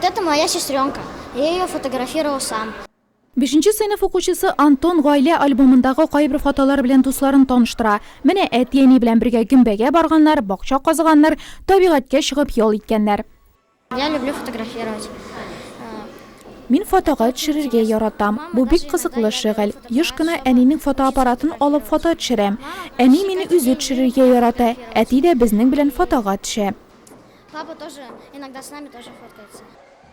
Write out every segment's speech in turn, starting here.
Это моя сестренка, я ее фотографировал сам. Бишенче сыйныф укучысы Антон гаилә альбомындагы кайбер фотолар белән дусларын таныштыра. Менә әти-әни белән бергә гөмбәгә барганнар, бакча казыганнар, табигатькә чыгып ял иткәннәр. Я люблю фотографировать. Мин фотога төшерергә яратам. Бу бик кызыклы шөгыль. Еш кына әнинең фотоаппаратын алып фото төшерәм. Әни мине үзе төшерергә ярата, әти дә безнең белән фотога төшә. Папа тоже иногда с нами тоже фоткается.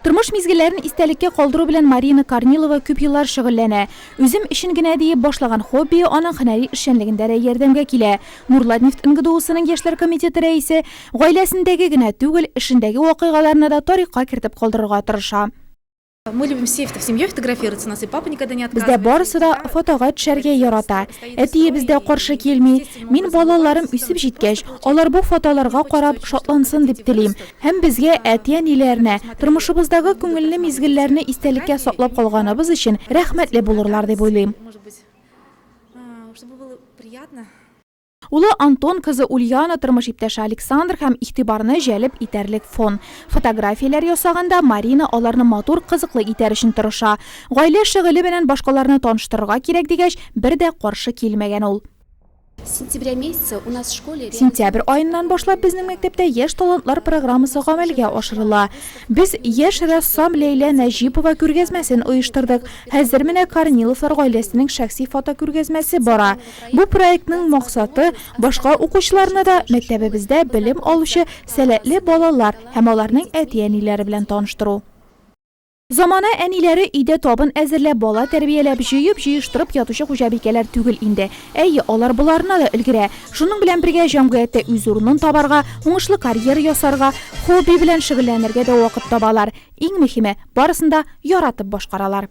Тормыш мизгелләрен истәлеккә калдыру белән Марина Корнилова күп еллар шөгыльләнә. Үзем өчен генә диеп башлаган хоббие аның һөнәри эшчәнлегендә дә ярдәмгә килә. Нурлатнефть НГДУсының яшьләр комитеты рәисе гаиләсендәге генә түгел, эшендәге вакыйгаларны да тарихка кертеп калдырырга тырыша. Мы любим все в семье фотографироваться, нас и папа никогда не отказывает. Бездә барысы да фотога төшәргә ярата. Әтие бездә каршы килми. Мин балаларым үсеп җиткәч, алар бу фотоларга карап шатлансын дип телим. Һәм безгә әти-әниләренә тормышыбыздагы күңелле мизгелләрне истәлеккә саклап калганыбыз өчен рәхмәтле булырлар дип уйлыйм. Чтобы было приятно. Улы Антон, кызы Ульяна, тормыш иптәше Александр һәм игътибарны җәлеп итәрлек фон. Фотографияләр ясаганда Марина аларны матур, кызыклы итәр өчен тырыша. Гаилә шөгыле белән башкаларны таныштырырга кирәк дигәч, бер дә каршы килмәгән ул. Сентябрь аеннан башлап безнең мәктәптә Яшь талантлар программасы гамәлгә ашырыла. Без яшь рәссам Ләйлә Нәҗипова күргәзмәсен оештырдык. Хәзер менә Корниловлар гаиләсенең шәхси фотокүргәзмәсе бара. Бу проектның максаты, башка укучыларны да мәктәбебездә белем алучы сәләтле балалар һәм аларның әти-әниләре белән таныштыру. Замана әниләре өйдә табын әзерләп, бала тәрбияләп, җыеп-җыештырып ятучы хуҗабикәләр түгел инде. Әйе, алар боларына да өлгерә. Шуның белән бергә җәмгыятьтә үз урынын табарга, уңышлы карьера ясарга, хобби белән шөгыльләнергә дә вакыт табалар. Иң мөһиме, барысын да яратып башкаралар.